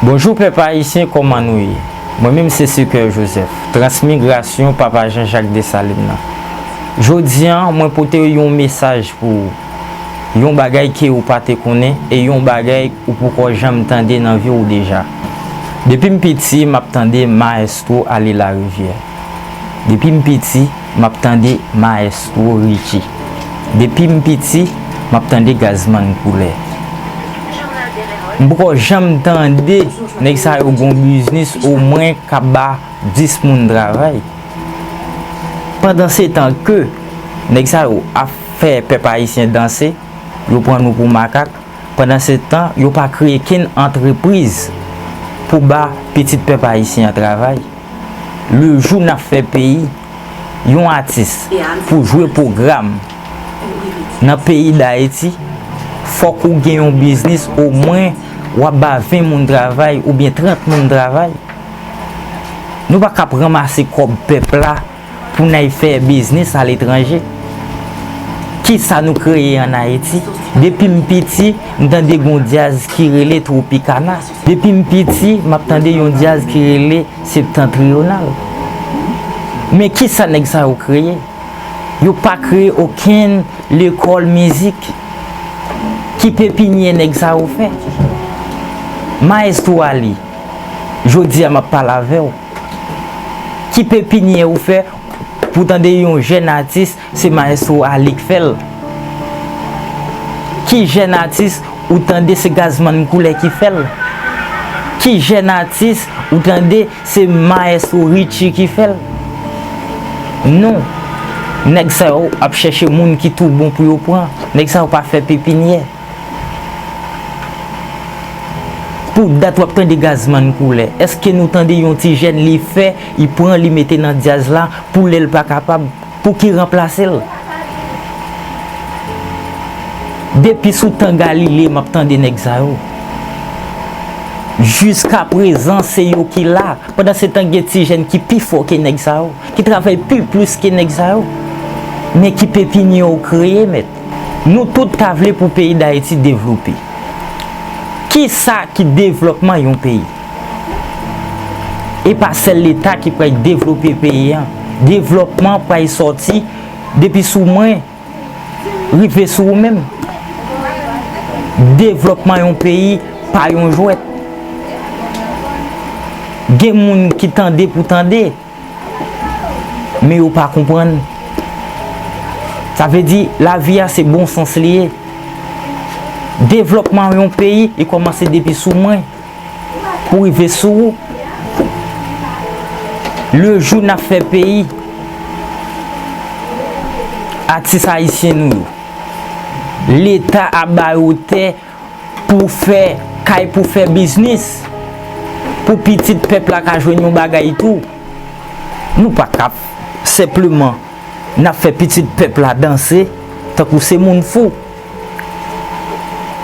Bonjou pèp ayisyen kòman nou ye mwen menm se Secoeur Joseph transmigrasyon papa Jean Jacques Dessalines nan jodi an mwen pote yon mesaj pou ou yon bagay ke ou pa te konnen e yon bagay ou poko janm tande nan vi ou deja depim piti map tande maestro ale larivyè depim piti Map tande maestro Richie depim piti map tande Gazman koulè m poko janm tande nèg sa yo gon biznis omwen kap ba 10 moun travay pandansetan ke nèg sa yo ap fè pèp ayisyen danse yo pran nou pou makak pandansetan yo pa kreye kenn antrepriz pou ba pitit pèp ayisyen travay. Le jou nap fè peyi yon atis pou jwe pwogram nan peyi dayiti fòk ou gen yon biznis o mwen wap ba 20 moun travay oubyen 30 moun travay nou pa kap ranmase kòb pèp la. Pou n al fè biznis aletranje. Kisa nou kreye an Ayiti? Depi m piti, m tande gen yon dyaz ki rele Tropicana. Depi m piti, m ap tande yon dyaz ki rele Septentrional. Men kisa nèg sa yo kreye? Yo pa kreye okenn lekòl mizik. Ki pepinyè nèg sa yo fè? Maestro Aly, jodi a m ap pale avè w. Ki pepinye ou fè pou tande yon jèn atis se maestro Aly k fèl? Ki jèn atis ou tande se Gazzman Couleur ki fèl? Ki jèn atis ou tande se maestro Richie ki fèl? Non, nèg sa yo ap chèche moun ki tou bon pou yo pran, nèg sa yo pa fè pepinyè. Pou dat wap tande Gazman koule eske nou tande yon ti jèn li fè li pran li mete nan dyaz la pou lèl pa kapab pou ki ranplasel depi sou tan galile map tande nèg sa yo jiska prezan se yo ki la pandan se tan gen ti jèn ki pi fò ke nèg sa yo ki travay pi plis ke nèg sa yo men ki pepinye yo kreye mèt. Nou tout ta vle pou peyi Dayiti devlope. Ki sa ki devlòpman yon peyi? E pa sèl leta ki pral devlope peyi an. Devlòpman pral sòti depi sou mwen rive sou ou menm. Devlòpman yon peyi pa yon jwèt. Gen moun ki tande pou tande. Men yo pa konprann. Sa vle di, lavi a se bon sans li ye. Devlòpman yon peyi, li kòmanse depi sou mwen, pou rive sou ou. Le jou n ap fè peyi, atis ayisyen nou yo, leta ap ba yo tè, Pou fè kay pou fè biznis. Pou pitit pèp la ka jwenn yon bagay tou. Nou pa ka ap senpleman n ap fè pitit pèp la danse tankou se moun fou.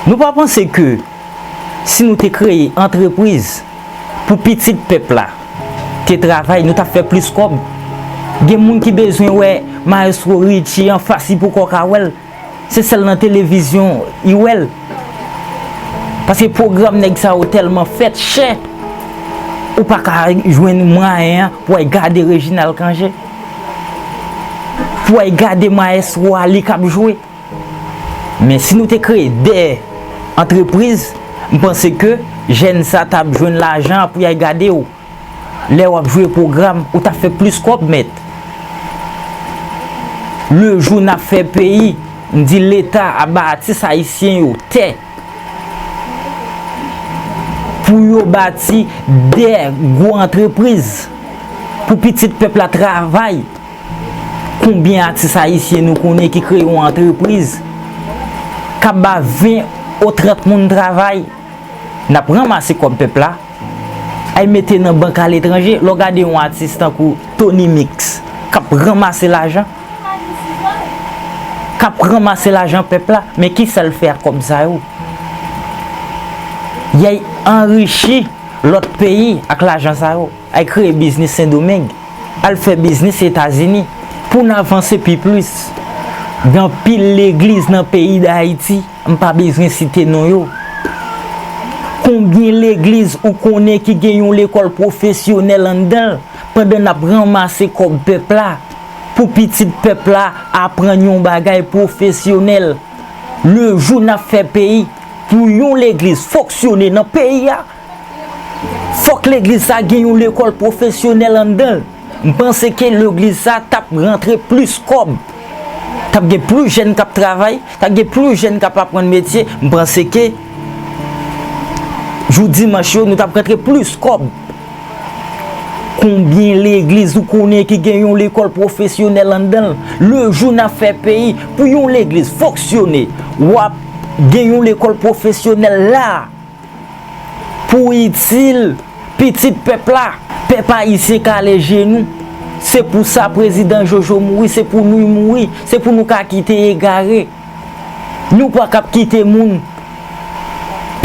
Nou pa panse ke si nou te kreye antrepriz pou pitit pèp la te travay nou t ap fè plis kòb? Gen moun ki bezwen wè Maestro Richie anfas li poko ka wè l. Se sèl nan televizyon u wèl. Paske pwogram nèg sa yo tèlman fèt chè, ou pa ka jwenn mwayen an pou al gade Reginald Cangé. Pou al gade Maestro a li k ap jwe. Men si nou te kreye 2 antrepriz, m panse ke jèn sa ta ap jwenn lajan pou y al gade w. Lè wap jwe program ou tap fè plis kòb mèt le jou nap fè peyi m di leta ap ba atis ayisyen yo tè pou yo bati 2 gwo antrepriz pou pitit pèp la travay konbyen atis ayisyen nou konnen ki kreye yon antrepriz kap ba 20 ou 30 moun travay. Nap ranmase kòb pèp la, al mete nan bank aletranje, lè w gade yon atis tankou Tony Mix kap ranmase lajan, kap ranmase lajan pèp la, men kisa l fè ak kòb sa yo? Yay anrichi lòt peyi ak lajan sa yo, al kreye biznis Sendomeng, al fè biznis Etazini, pou n avanse pi plis. Gen anpil legliz nan peyi Dayiti. M pa bezwen site non yo. Konbyen legliz ou konnen ki gen yon lekòl pwofesyonèl anndan l pandan n ap ranmase kòb pèp la pou pitit pèp la aprann yon bagay pwofesyonèl? Lejou n ap fè peyi pou yon legliz foksyone nan peyi a, Fok legliz sa gen yon lekol profesyonel andanl m panse ke legliz sa tap rantre plis kob tap gen plis jèn kap travay tap gen plis jèn kap aprann metye m panse ke jou dimanch yo nou tap rantre plis kob konbyen legliz ou konnen ki gen yon lekol profesyonel andanl le jou nap fè peyi pou yon legliz foksyone wap gen yon lekol profesyonel la. Pou itil pitit pèp la. Pèp ayisyen kale je nou. Se pou sa prezidan jojo mouri se pou noui mouri se pou nou ka kite egare nou pa kap kite moun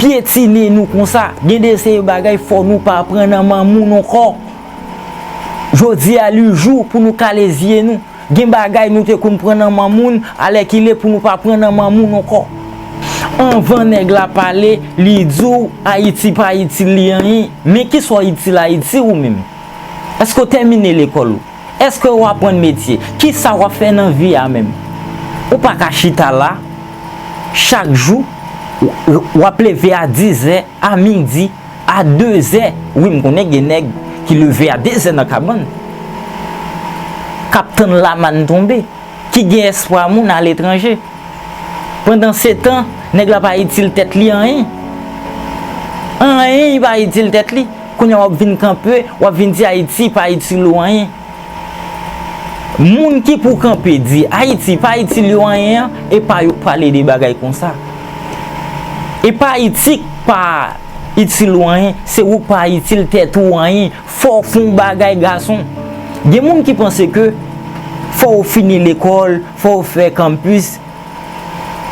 pyetine nou konsa gen de seri bagay fò nou pa pran nan manmoun onkò jodi a li jou pou nou kale zye nou. Gen bagay nou te konn pran nan man moun, alèkile pou nou pa pran nan man moun ankò. Anvan nèg la pale, li di w Ayiti pa itil li anyen. Men ki sa w itil Ayiti ou menm? Èske w tèmine lekòl ou? Èske ou aprann metye? Ki sa w ap fè nan vi a menm? Ou pa ka chita la, chak jou, w ap leve a dizè, a midi. A dezè wi m konnen gen nèg ki leve a dezè nan kabann k ap tann lamann tonbe ki gen espwa moun aletranje pandansetan nèg la pa itil tèt li anyen anyen li pa itil tèt li kounye a w ap vin kanpe w ap vin di ayiti pa itil ou anyen Moun ki pou kanpe di Ayiti pa itil yo anyen an, e pa yo k pale de bagay konsa. E pa Ayiti k pa itil ou anyen, se ou k pa itil tèt ou anyen. Fò w fon w bagay gason. Gen moun ki panse ke fò w fini lekòl, fò w fè kanmpis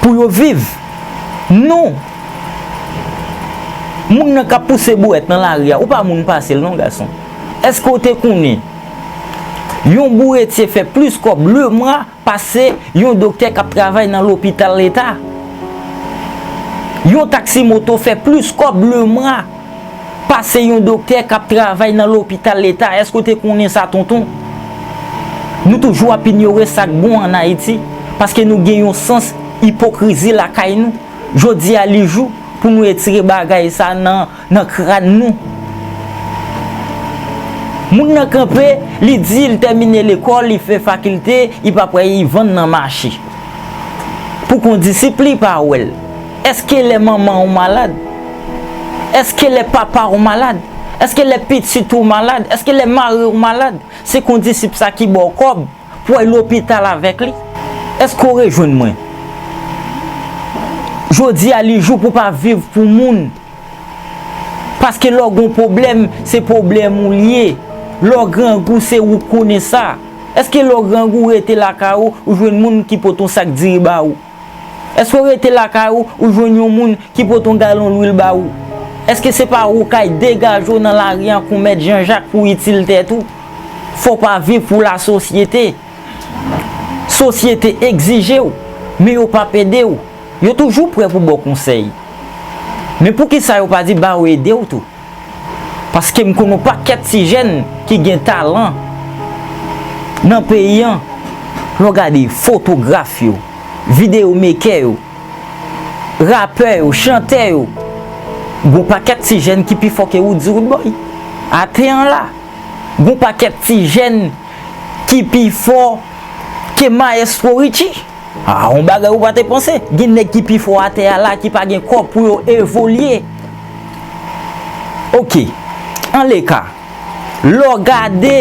pou yo viv. Non! Moun nan k ap pouse bouwèt nan lari a, ou pa moun pase l non gason. Eske w te konnen yon bouretye fè plis kòb le mwa pase yon doktè k ap travay nan lopital leta? Yon taksi moto fè plis kòb le mwa pase yon doktè k ap travay nan lopital leta, eske w te konnen sa tonton? Nou toujou ap inyore sa k bon an Ayiti paske nou gen yon sans ipokrizi lakay nou, jodi a li jou pou nou etire bagay sa nan. Nan kran nou. Moun nan kanpe, li di li tèmine lekòl, li fè fakilte, li pa pwè li vann nan mache. Pou kondisip li pa wè l. Eske lè manman ou malad? Eske lè papa ou malad? Eske lè pitit ou malad? Eske lè mari ou malad? Se kondisip sa ki ba w kòb pou al lopital avèk li? Eske ou rejwenn mwen? Jodi a li jou pou pa viv pou moun. Paske lè w gen yon pwoblèm, se pwoblèm ou li ye. Lè w grangou, se ou k konnen sa. Èske lè w grangou, ou rete lakay ou, ou jwenn moun ki pote yon sak diri ba ou? Èske w rete lakay ou, ou jwenn yon moun ki pote yon galon lwil ba ou? Èske se pa ou k al degaje w nan lari an kon mèt Janjak pou w itil tèt ou? Fò w pa viv pou lasosyete. Sosyete egzije w, men yo p ap ede w. Yo toujou prè pou ba w konsèy. Men poukisa yo pa di ba yo ede w tou? Paske m konn on pakèt ti jèn ki gen talan nan peyi an, lè w gade fotograf yo, videyo mekè yo, rapè yo, chantè yo, gen on pakèt ti jèn ki pi fò ke Woodzy Woodboy. Atè an la. Gen on pakèt ti jèn ki pi fò ke Maestro Richie. Ah yon bagay ou pa te panse, gen nèg ki pi fò atè a la ki pa gen kò pou yo evolye. Ok, anleka, lè w gade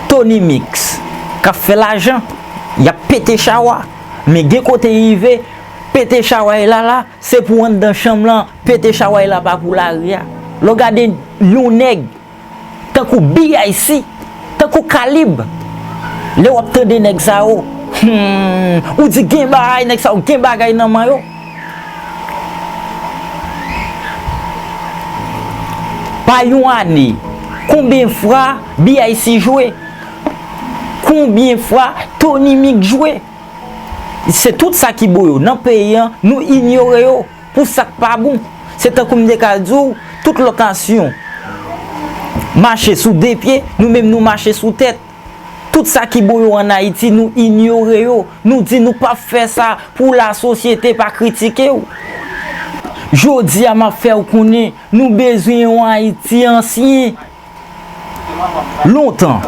Tony Mix k ap fè lajan, y ap pete chawa, men gen kote rive, pete chaway la la, se pou anndan chanm lan, pete chaway la pa pou lari a. Lè w gade yon nèg. Tankou BIC, tankou Kalib. Lè wap tande nèg sa yo, humm, ou di gen bahay, nèg sa yo gen bagay nan man yo. Pa yon ane, konbyen fwa BIC jwe? Konbyen fwa Tony Mix jwe? Se tout sa ki bo yo nan peyi an, nou inyore yo. Pou sa k pa bon, se tankou m te ka di w, tout lòt nasyon mache sou de pye, nou menm nou mache sou tèt. Tout sa ki bon yo an Ayiti, nou inyore yo. Nou di nou p ap fè sa pou lasosyete pa kritike w. Jodi a, m ap fè w konnen, nou bezwen yon Ayiti ansyen. Lontan,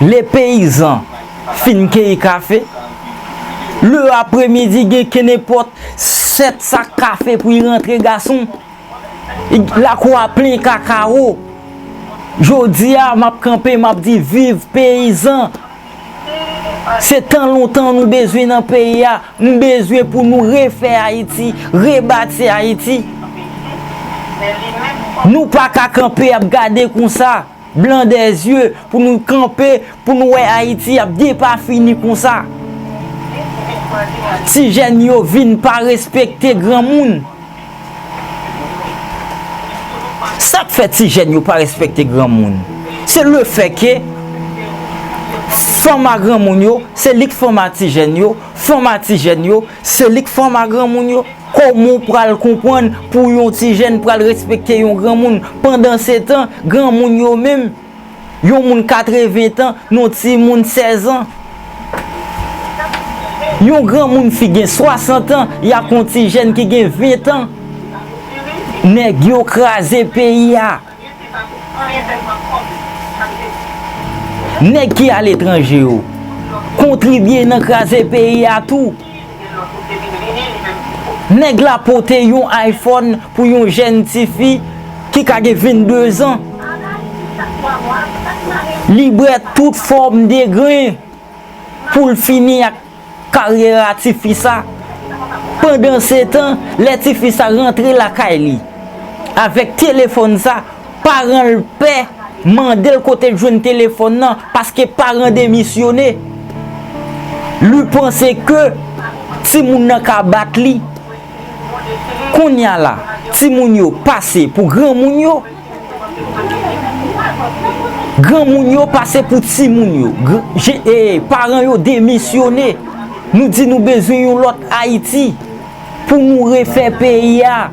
lè peyizan fin keyi kafe, le apre midi gen kenenpòt 7 sak kafe pou y rantre gason. Lakou a plen kakawo. Jodi a, m ap kanpe, m ap di viv peyizan! Se tan lontan nou bezwen nan peyi a, m bezwen pou nou refè Ayiti, rebati Ayiti. Nou pa ka kanpe ap gade konsa, blan dè zye, pou nou kanpe, pou nou wè Ayiti ap depafini konsa. Ti jèn yo vin pa respekte granmoun. Sak fè ti jèn yo pa respekte granmoun se le fè ke fòma granmoun yo se lik fòma ti jèn yo fòma ti jèn yo se lik fòma granmoun yo. Koman w pral konprann pou yon ti jèn pral respekte yon granmoun pandan se tan granmoun yo menm. yon moun 80 tan nan yon ti moun 16 an. Yon gran moun fi gen 60 an ya kon ti jèn ki gen 20 tan. Nèg yo kraze peyi a. Nèg ki aletranje yo kontribye nan kraze peyi a tou. Nèg la pote yon iPhone pou yon jèn ti fi ki ka gen 22 zan. Li bre tout fòm degren pou l fini ak karyera ti fi sa. Pandansetan, lè ti fi sa rantre lakay li avèk telefòn sa, Paran l pè mande l kote l jwenn telefòn nan paske paran demisyone. Lu panse ke timoun nan ka bat li. Konnya la, timoun yo pase pou granmoun yo. Granmoun yo pase pou timoun yo. Paran yo demisyone. Nou di nou bezwen yon lòt Ayiti. Pou nou refè peyi a,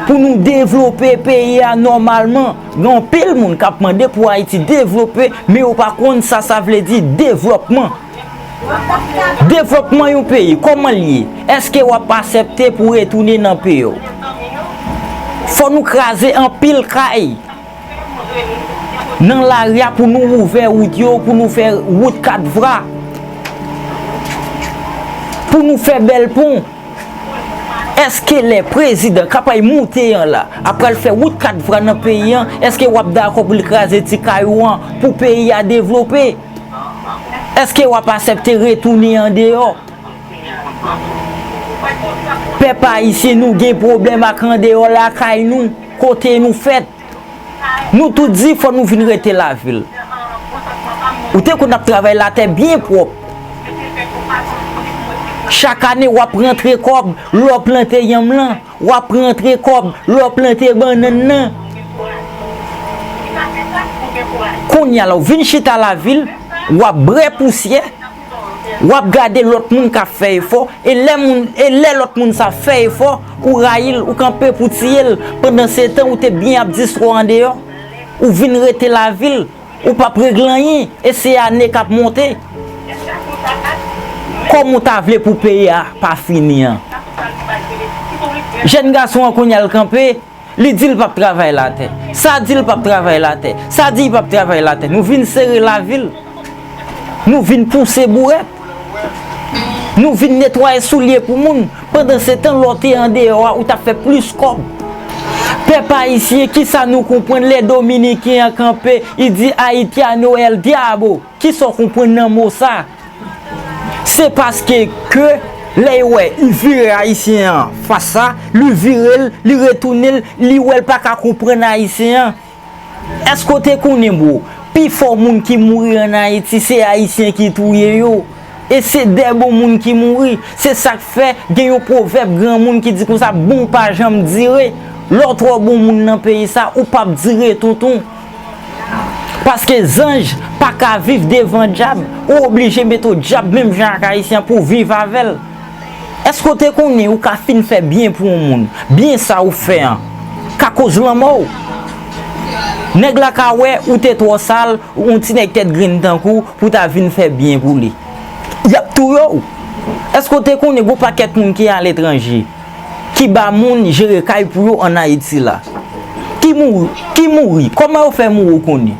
pou nou devlope peyi a nòmalman, gen anpil moun k ap mande pou Ayiti devlope, men yo pa konn sa sa vle di devlòpman. Devlòpman yon peyi, kòman l ye? Èske w ap asèpte pou retounen nan peyi w? Fò nou kraze anpil kay. Nan lari a pou nou ouvè wout yo, pou nou fè wout kat vra, pou nou fè bèl pon. Eske lè prezidan kap ay moute an la ap pral fè wout kat vra nan peyi an, eske wap dakò pou li kraze ti kay ou an pou peyi a devlope? Eske wap asèpte retounen andeyò? Pèp ayisyen nou gen pwoblèm ak andeyò lakay nou. Kote nou fèt? Nou tout di fò nou vin rete lavil. Ou te konn ap travay latè byen pwòp. Chak ane w ap rantre kòb lè w plante yanm lan, w ap rantre kòb lè w plante bannann nan. Kounye a la ou vin chita lavil, w ap bre pousyè. wap gade lòt moun kap fè efò e lè moun e lè lòt moun sa fè efò ou rayil ou kanpe pou tiyel pandan se tan ou te byen ap distro andeyò ou vin rete lavil ou pap regle anyen e se ane kap monte kòm ou ta vle pou peyi a pa fini an jèn gason an kounya l kanpe Li di l pap travay la tè. Sa di l pap travay la tè. Sa di y pap travay la tè. Nou vin sere lavi l. Nou vin pouse bourèt. Nou vin netwaye soulye pou moun. Pandansetan lè w te andeyò a ou t ap fè plis kòb. Pèp ayisyen ki sa nou konprann lè dominiken an kanpe, li di Haitiano el diabo? Ki sa w konprann nan mo sa? Se paske ke lè yo wè u vire ayisyen an fas sa, lu vire l, li retounen l, li wè l pa ka konprann ayisyen an. Èske w te konnen bro, pi fò moun ki mouri an Ayiti se ayisyen ki touye yo. E se dè bon moun ki mouri. Se sa k fè gen yon pwovèb granmoun ki di konsa bon pa janm dire. Lè w twò bon moun nan peyi sa, ou p ap dire tonton. Paske zanj pa ka viv devan dyab, ou oblije mete w dyab menm jan ak Ayisyen pou w viv avè l. Èske w te konnen ou ka fin fè byen pou yon moun, byen sa ou fè an ka koz lanmò w? Nèg la ka wè ou te twò sal, yon ti nèg tèt grenn tankou w, pou w ta vin fè byen pou li. Y ap touye w! Èske w te konnen gen yon pakèt moun ki aletranje, ki ba moun jere kay pou yo an Ayiti la. Ki mouri? Kòman yo fè mouri ou konnen?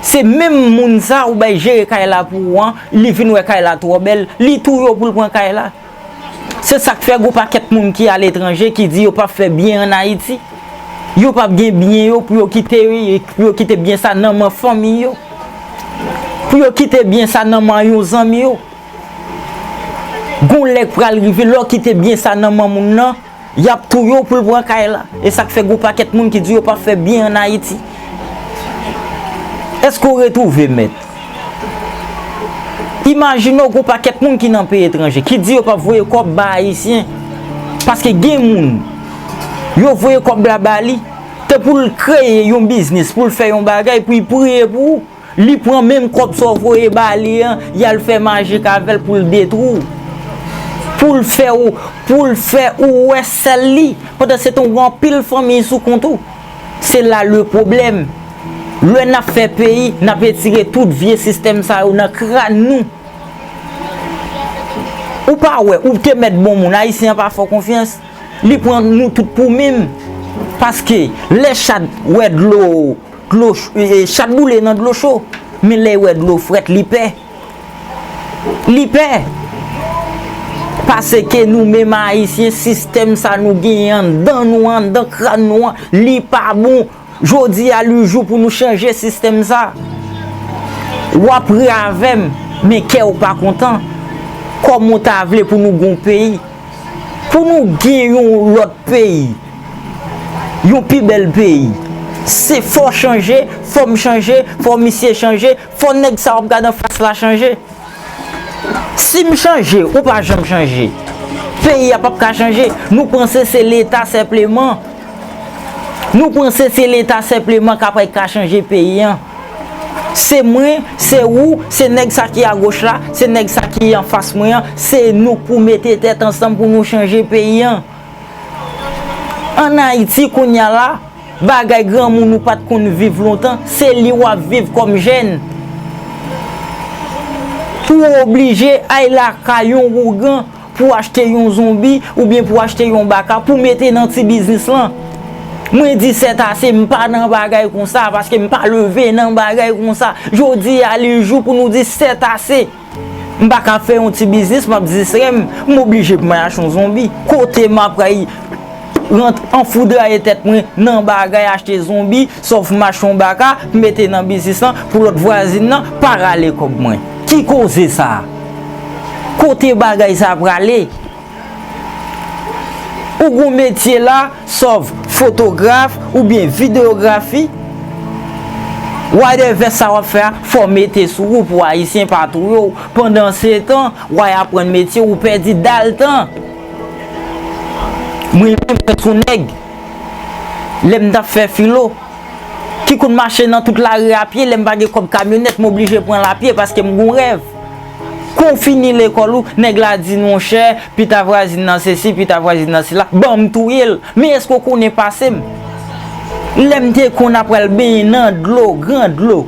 Se menm moun sa ou bay jere kay la pou ou an, li vin wè kay la twò bèl, li touye ou pou l pran kay la. Se sa k fè gen yon pakèt moun ki aletranje ki di yo pap fè byen an Ayiti. Yo pap gen byen yo pou yo kite pou yo kite byen sa nan men fanmi yo. Pou yo kite byen sa nan men yon zanmi yo. Gon lè k pral rive lè w kite byen sa nan man moun nan, y ap touye w pou l pran kay la. E sa k fè gon pakèt moun ki di yo pa fè byen an Ayiti. Èske w retwouve mèt? Imajine w gon pakèt moun ki nan peyi etranje, ki di yo p ap voye kòb ba Ayisyen, paske gen moun, yo voye kòb la ba li, te pou l kreye yon biznis, pou l fè yon bagay, pou l priye pou ou. Li pran menm kòb sa w voye ba li an, y al fè majik avè l pou l detwi w. Pou l fè w, pou l fè ou wè sèl li. Pandan se tan w gen anpil fanmiy sou kont ou. Se la le pwoblèm. Lè n ap fè peyi, n ap etire tout vye sistèm sa yo nan kràn nou. Ou pa wè, ou te mèt bon moun, Ayisyen an pa fè w konfyans. Li pran nou tout pou mim. Paske, lè chat wè dlo. Chat boule nan dlo cho, men lè l wè dlo frèt li pè. Li pè! Paseke nou menm Ayisyen, sistèm sa nou genyen anndan nou an, anndan kran nou an, li pa bon. Jodi a li jou pou nou chanje sistèm sa. W ap ri avè m, men kè w pa kontan. Kòman w ta vle pou nou gen yon peyi? Pou nou gen yon lòt peyi, yon pi bèl peyi, se fò chanje, fò m chanje, fò misye chanje, fò nèg sa w ap gade an fas la chanje. Si m chanje, ou pa janm chanje, peyi a p ap ka chanje. Nou panse se leta senpleman, nou panse se leta senpleman k ap ka chanje peyi an. Se mwen, se ou, se nèg sa ki agoch la, se nèg sa ki anfas mwen an, se nou pou mete tèt ansanm pou nou chanje peyi an. An Ayiti kounye a la, bagay granmoun ou pat konn viv lontan, se li wap viv kòm jèn. Pou w oblije ay lakay yon ougan. pou achte yon zonbi oubyen pou achte yon baka pou mete nan ti biznis lan mwen di sètase m pa nan bagay konsa paske m pa leve nan bagay konsa jodi a li jou pou nou di sètase m pa ka fè yon ti biznis m ap distrè m m oblije pou mwen achte yon zonbi kote m ap pral. Rent anfoudraye tèt mwen nan bagay achte zonbi sòf machon baka m mete nan biznis lan pou lòt vwazin nan pa rale kòb mwen. Ki koze sa? Kote bagay sa prale? Ou gon metye la sòf fotograf oubyen videyografi? Why de vès sa wap fè a fò mete sou ou pou ayisyen pa touye w pandan setan why aprann metye ou pèdi dal tan. Mwen menm mwen t yon nèg lè m tap fè filo ki konn mache nan tout lari a pye lè m pa gen kòb kamyonèt m oblije pran l a pye paske m gon rèv kou w fini lekòl ou nèg la di monchè pita vwazin nan sesi pita vwazin nan sela ban m touye l men èske w konnen pase m lè m te konn ap pral benyen nan dlo gran dlo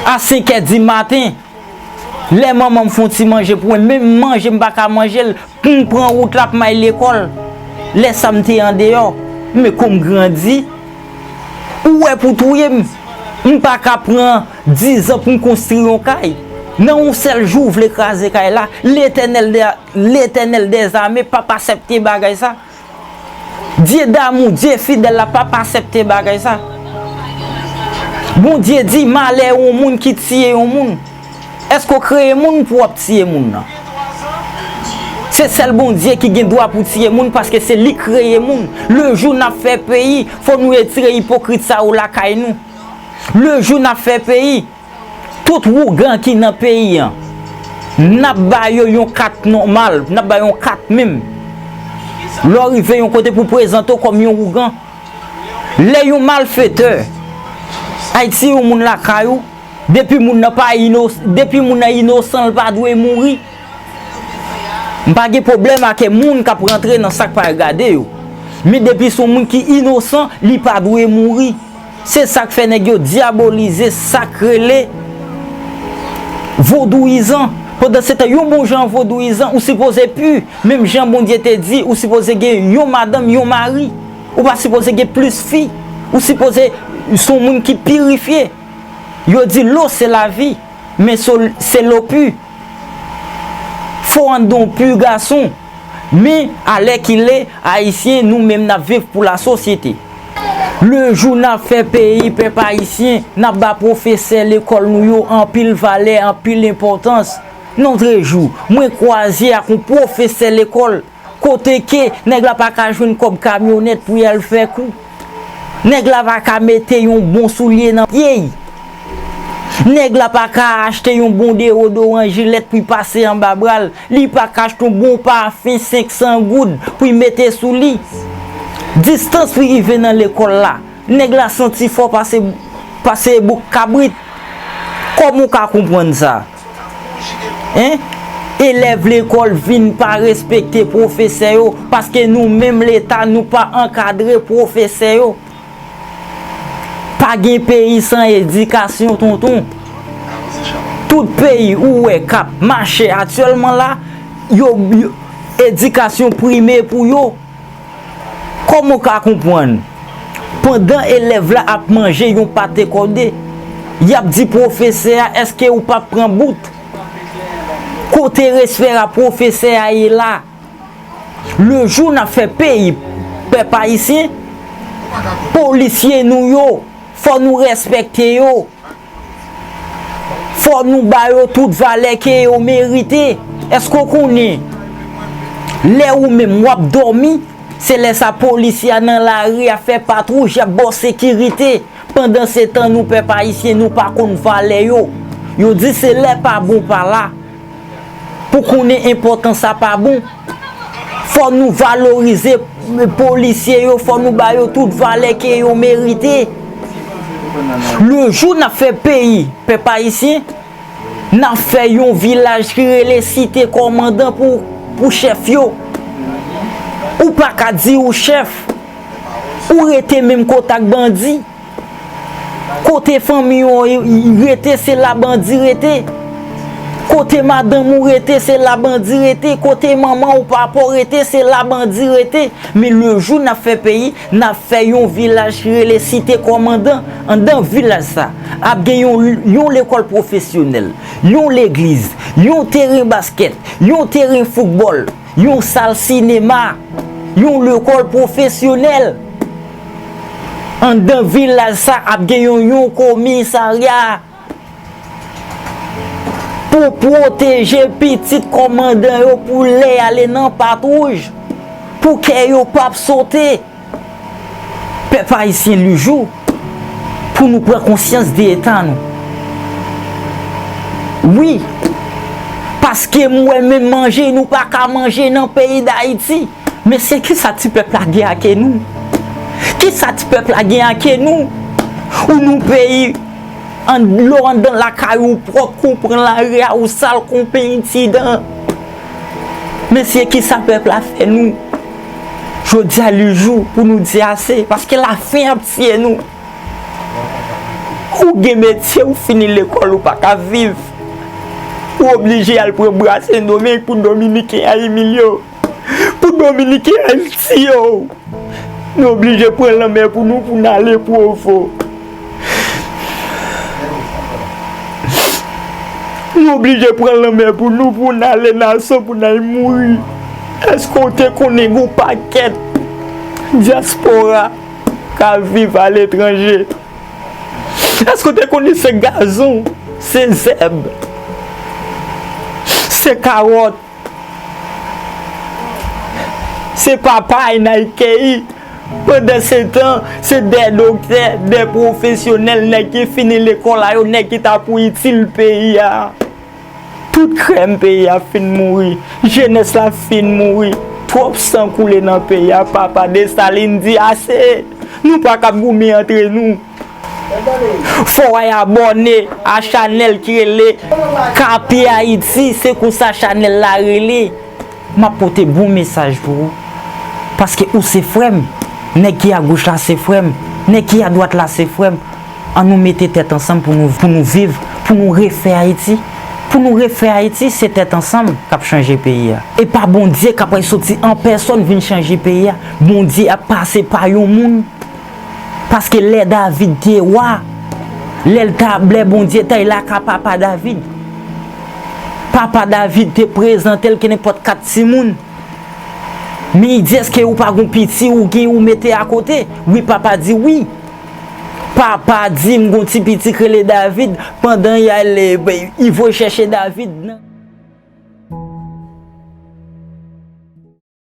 a senkè di maten. Lè manman m fon ti manje pou mwen, menm manje m pa ka manje l, pou m pran wout l ap may lekòl. Lè sa m te andeyò, men kou m grandi. Ou wè pou touye m, m pa ka pran dizan pou m konstri yon kay. Nan yon sèl jou ou vle kraze kay la, Letènèl dèzame p ap asèpte bagay sa. Dye damou, Dye fidèl la pap asèpte bagay sa. Bondye di malè yon moun ki tiye yon moun. Èske w kreye moun pou w ap tiye moun nan? Se sèl Bondye ki gen dwa pou tiye moun paske se li kreye moun. Le jou n ap fè peyi, fò nou retire ipokrit sa yo lakay nou. Le jou n ap fè peyi. Tout wougan ki nan peyi an, nap ba yo yon kat nòmal, nap ba yo yon kat menm. Lè w rive yon kote pou w prezante w kòm yon wougan, lè yon malfetè, Ayiti yon moun lakay ou, depi moun nan pa ino, depi moun nan inosan l pa dwe mouri. M pa gen pwoblèm ake moun kap rantre nan sak pa regade yo. Men depi son moun ki inosan, li pa dwe mouri. Se sak fè nèg yo dyabolize sak rele vodouyizan. Pandan se tan yon bon jan vodouyizan ou sipoze pu, menm jan Bondye te di ou sipoze gen yon madanm, yon mari. Ou pa sipoze gen plis fi. Ou sipoze son moun ki pirifye. Yo di lo se lavi, men so se lo pu. Fo andan w pu gason. Men, alèkile, Ayisyen, nou menm n ap viv pou lasosyete. Lejou n ap fè peyi pèp ayisyen, n ap ba pwofesè lekòl nou yo anpil valè, anpil enpòtans. Lotrejou, mwen kwaze ak yon pwofesè lekòl, kote ke nèg la pa ka jwenn kòb kamyonèt pou y al fè kou. Nèg la pa ka mete yon bon soulye nan pye y. Nèg la pa ka achte yon bon dewodoran jilèt pou y pase anba bra l. Li pa ka achte yon bon pafen 500 goud pou y mete sou li. Distans li rive nan lekòl la, nèg la santi fò pase pase bouk kabrit. Kòman w ka konprann sa? Hein? Elèv lekòl vin pa respekte pwofesè yo paske nou menm leta nou pa ankadre pwofesè yo. Pa gen peyi san edikasyon tonton Tout peyi ou wè kap mache atyèlman la yo edikasyon prime pou yo Kòman w ka konprann pandan elèv la ap manje yon pate kòde yap di pwofesè a eske ou pap pran bout Kote respè a pwofesè a ye la. Le jou nap fè peyi pèp ayisyen polisye nou yo fò nou respekte yo fò nou ba yo tout valè ke yo merite eske ou konnen lè ou menm wap dòmi se lè sa polisye a nan lari ap fè patwouj yap baw sekirite pandan se tan nou pèp ayisyen nou pa konn valè yo yo di se lè pa bon pa la Pou konnen enpòtan sa pa bon. Fò nou valorize polisye yo, fò nou ba yo tout valè ke yo merite. Le jou n ap fè peyi, pèp ayisyen, n ap fè yon vilaj ki rele site kòmandan pou chèf yo. Ou pa ka di ou chèf, ou rete menm kota ak bandi. Kote fanmi ou rete se la bandi rete Kote madanm ou rete se la bandi rete Kote manman ou papa ou rete se la bandi rete Men le jou nap fè peyi nap fè yon vilaj ki rele site kòmandan Andan vilaj sa ap gen yon lekòl pwofesyonèl Yon legliz Yon teren baskèt Yon teren foutbòl yon sal sinema, yon lekòl pwofesyonèl. Anndan vilaj sa a ap gen yon yon komisarya pou pwoteje pitit kòmandan yo pou lè y ale nan patwouj, pou kè yo pap sote. Pèp ayisyen li jou pou nou pran konsyans de eta nou wi paske m wè menm manje nou pa ka manje nan peyi dayiti mesye kisa ti pèp la gen ake nou kisa ti pèp la gen ake nou ou nou peyi an dlo andan lakay ou pwòp kou pran lari a ou sal kou penti dan. Mesye kisa pèp la fè nou jodia li jou pou nou di ase paske la faim ap tiye nou ou gen metye ou fini lekòl ou paka viv ou oblije al pran bra sendomeng pou dominiken a imilye w pou dominiken a tiye w nou oblije pran lanmè pou nou pou n ale provo. Nou oblije pran lanmè pou nou pou n ale nan san pou n al mouri. Èske w te konnen gen yon pakèt dyaspora k ap viv aletranje? Èske w te konnen se gazon, se zèb, se kawòt? Se papa e nan ekeyi. Pandansetan, se de doktè, de pwofesyonèl, nèg ki fini lekòl a yo, nèg ki ta pou itil peyi a. Tout krèm peyi a fin mouri. Jenès la fin mouri. Twòp san koule nan peyi a. Papa Desalin di ase! Nou pa kab goumen antre nou. Fò ay abòne a chanèl ki rele KP Haïti se konsa chanèl la rele map pote bon mesaj pou ou paske ou se frèm nèg ki a goch la se frèm nèg ki a dwat la se frèm an nou mete tèt ansanm pou nou pou nou viv pou nou refè Haïti pou nou refè Haïti se tèt ansanm kap chanje peyi a e pa Bondye kap soti an pèsòn vin chanje peyi a Bondye ap pase pa yon moun Paske lè David te wa, lè l ta lè Bondye ta y la ka papa David, papa David te prezante l kenenpòt kat timoun. Men y di èske ou pa gon piti ou gen ou mete akote? Wi papa di wi. Papa di m gon ti piti k rele David pandan y al y voye chèche David nan.